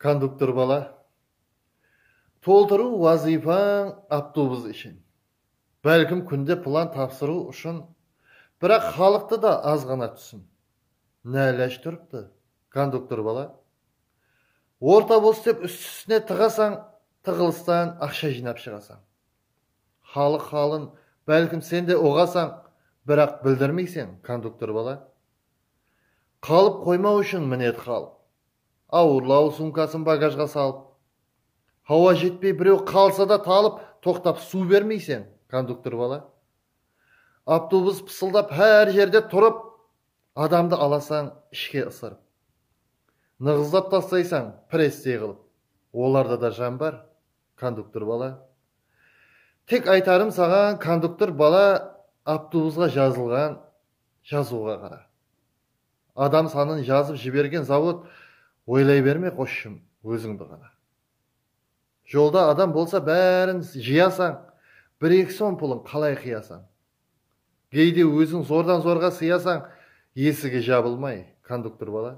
Konduktor bala, toltırıw wazıypań avtobus ishin. Bálkim kúnde plan tapsırıw ushın, biraq xalıqtı da azǵana túsin. Ná ilaj turıptı, konduktor bala? Orta bos dep ústi-ústine tıǵasań, tıǵılıstan aqsha jıynap shıǵasań. Xalıq halın bálkim sen de uǵasań, biraq bildirmeyseń, konduktor bala. Qalıp qoymaw ushın minet xal. Awırlaw sumkasın bagajǵa salıp. Hawa jetpey birew qalsa da talıp, toqtap suw bermeyseń, konduktor bala. Avtobus pısıldap hár jerde turıp, adamdı alasań ishke ısırıp. Nıǵızlap tastaysań prestey qılıp. Olarda da jan bar, konduktor bala. Tek aytarım saǵan, konduktor bala, avtobusqa jazılǵan Jazıwǵa qara. Adam sanın jazıp jibergen zavod oylay berme qosshım ózińdi ǵana. Jolda adam bolsa bárin jıyasań bir eki som pulın qalay qıyasań. Geyde óziń zordan zorǵa sıyasań esigi jabılmay konduktor bala.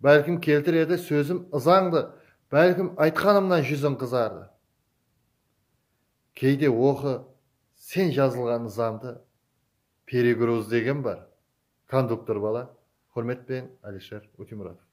Bálkim keltiredi sózim ızańdı bálkim aytqanımnan júziń qızardı. Keyde oqı sen jazılǵan nızamdı peregrozdegen bar konduktor bala xurmet penen Alisher Utimuratov.